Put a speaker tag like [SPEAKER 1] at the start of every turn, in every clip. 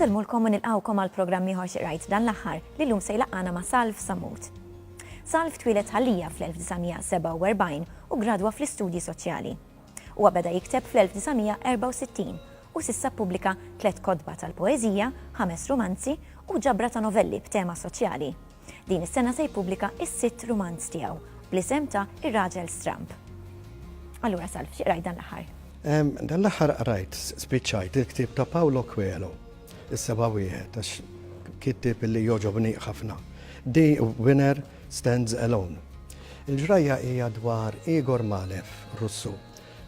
[SPEAKER 1] Insellmulkom u nilqgħukom għal programm ieħor Xi Qrajt dan l-aħħar li llum se jlaqqagħna ma' Salv Sammut. Salv twieled Ħal-Lija fl-1947 u ggradwa fl-Istudji Soċjali. Huwa beda jikteb fl-1964 u s'issa ppubblika tliet kotba tal-poeżija, ħames rumanzi u ġabra ta' novelli b'tema soċjali. Din is-sena se jippubblika s-sitt rumanz tiegħu bl-isem ta' Ir-Raġel Stramb. Allura Salv, xi qrajt dan l-aħħar? Dan l-aħħar
[SPEAKER 2] qrajt, spiċċajt il-ktieb ta' Paolo Coelho, Is-Seba' Wieħed, għax kittieb li jogħġobni ħafna. The Winner Stands Alone. Il-ġrajja hija dwar Igor Malev, Russu,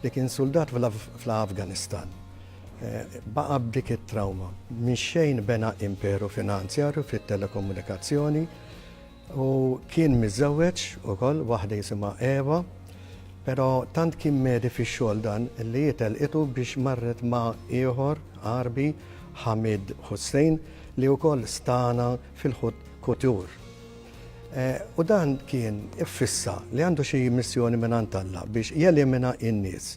[SPEAKER 2] li kien suldat fl-Afganistan. Baqa' b'dik it-trawma. Mix-xejn bena imperu finanzjarju fit-telekomunikazzjoni u kien miżżewweġ ukoll waħda jisimha Eva, pero' tant kien medi fix-xogħol dan li hi telqitu biex marret ma' ieħor Għarbi, Hamid Hussein, li wkoll stagħna fil-haute couture. U dan kien iffissa li għandu xi missjoni mingħand Alla biex jelimina n-nies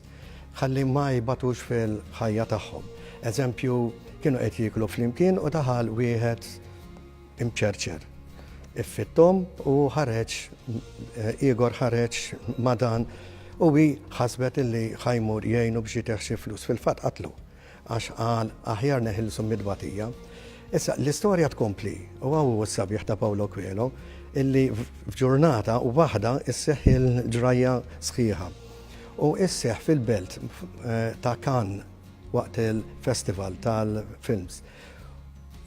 [SPEAKER 2] ħalli ma jbatux fil-ħajja tagħhom. Eżempju, kienu qed jieklu flimkien u daħal wieħed imċerċer. Iffitthom u ħareġ ieghor ħareġ ma' dan u hi ħasbet illi ħa jmur jgħinu biex jtih xi flus. Fil-fatt qatlu. Għax qal, Aħjar neħilsu mit-tbatija. Issa, l-istorja tkompli, u hawn hu s-sabiħ ta' Paolo Coelho, illi f'ġurnata waħda sseħħ il-ġrajja sħiħa. U sseħħ fil-belt ta' Cannes waqt il-festival tal-films.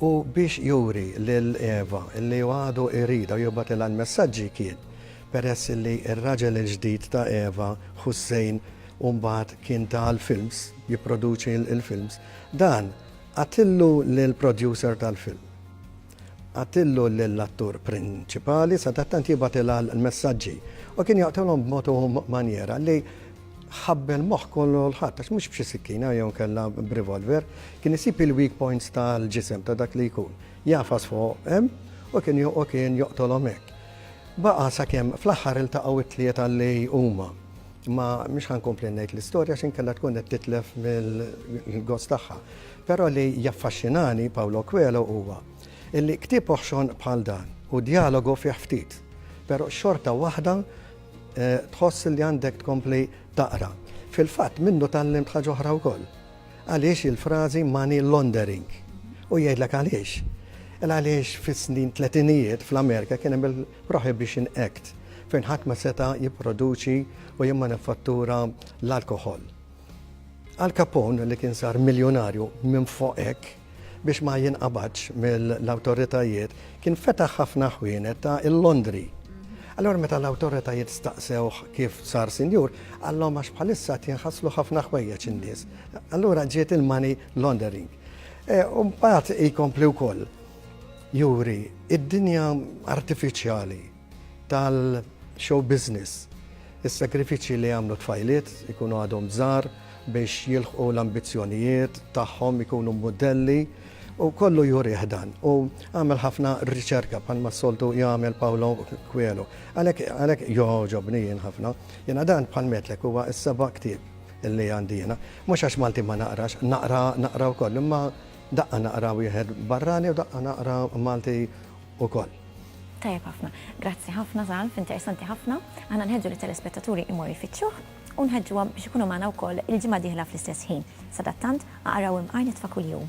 [SPEAKER 2] U biex juri lil Eva li hu għadu jridha u jibgħatilha l-messaġġi kien peress li r-raġel il-ġdid ta' Eva, Hussein, u mbagħad kien ta l-films, jipproduċi l-films, dan għatillu lill-producer tal-film. Għatillu lill-attur prinċipali sadattant jibgħatilha l-messaġġi u kien jaqtilhom b'mod u manjera li ħabbel moħħ kollu l-ħadd għax mhux b'xi sikkina jew kellha b'revolver, kien isib il-weak points tal-ġisem ta' dak li jkun. Jafas fuq hemm u kien u kien joqtolhom hekk. Baqa' sakemm fl-aħħar iltaqgħu t-tlieta li huma. Imma mhux ħa nkompli ngħid l-istorja għax inkella tkun qed titlef mill-gost tagħha. Però li jaffaxxinani Paolo Coelho huwa illi ktieb oħxon bħal dan u djalogu fih ftit, però xorta waħda tħoss li għandek tkompli taqra. Fil-fatt minnu tgħallimt ħaġa oħra wkoll. Għaliex il-frażi money laundering. U jgħidlek għaliex. Għaliex fis-snin tletinijiet fl-Amerika kien hemm Prohibition Act, fejn ħadd ma seta' jipproduċi u jimmanifattura l-alkoħol. Al Capone, li kien sar miljunarju minflok hekk, biex ma jinqabadx mill-awtoritajiet, kien fetaħ ħafna ħwienet ta' il-londri. Allura meta l-awtoritajiet staqsewh kif sar sinjur, qallhom għax bħalissa qed jinħaslu ħafna ħwejjeġ in-nies. Allura ġiet il-money laundering. E, u mbagħad ikompli wkoll. Juri, id-dinja artifiċjali tal-show business, is-sagrifiċċji li jagħmlu t-tfajliet ikunu għadhom żgħar biex jilħqu l-ambizzjonijiet tagħhom, ikunu mudelli, u kollu jurih dan. U għamel ħafna riċerka bħalma s-soltu jagħmel Paolo Coelho. Għalhekk għalhekk jogħġobni jien ħafna. Jiena dan bħal metlek huwa s-seba' ktieb li għandi jiena. Mhux għax Malti ma naqrax, naqra naqra wkoll, imma Daqqa naqra wieħed barrani u daqqa naqra Malti ukoll. Tajjeb
[SPEAKER 1] ħafna. Grazzi ħafna Zalf, interessanti ħafna. Aħna nħeġġu lit-telespettaturi jmorru jfittxuh u nħeġġuhom biex ikunu magħna wkoll il-ġimgħa d-dieħla fl-istess ħin. Sadattant, aqraw Imqar Nitfa' Kuljum.